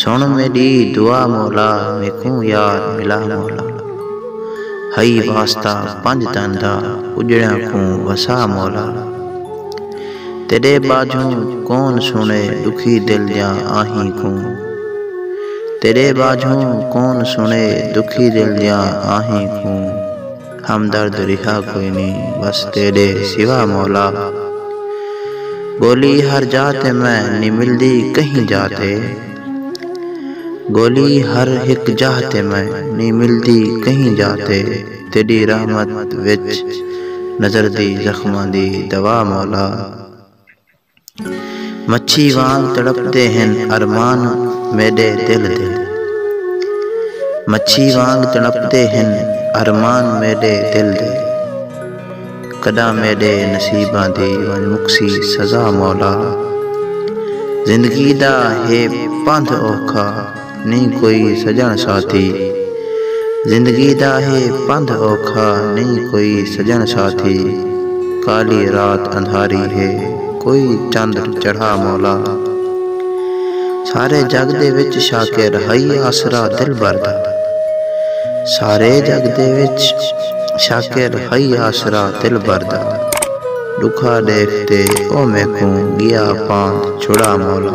سݨ میݙی دعا مولا میکوں یار ملا مولا ہئی واسطہ پنج تن دا اجڑیاں کوں وسا مولا تیݙے ٻاجھوں کون سݨے ݙکھی دل دیاں آہیں کوں تیݙے ٻاجھوں کون سݨے ݙکھی دل دیاں آہیں کوں۔ ہمدرد ریہا کوئی نی بس تیڈے سوا مولا گولی ہر جا تے میں نی ملدی کہیں جا تے گولی ہر ہک جاہ تے میں نی ملدی کہیں جا تے تیڈی رحمت وچ نظردی زخماں دی دوا مولا۔ مچھی وانگ تڑپدے ہن ارمان میڈے دل دے۔ مچھی وانگ تڑپدے ہن ارمان میڈے دل دے۔ کڈاں میڈے نصیباں دی ونج مکسی سزا مولا۔ زندگی دا ہے پندھ اوکھا۔ نئیں کوئی سڄݨ ساتھی زندگی دا ہے پندھ اوکھا نئیں کوئی سڄݨ ساتھی کالی رات اندھاری ہے کوئی چندر چڑھا مولا سارے جڳ دے وچ شاکر ہئی آسرا دلبر دا سارے جڳ دے وچ شاکر ہئی آسرا دلبر دا ݙکھا ݙیکھ تے او میکوں ڳیا پاند چھڑا مولا۔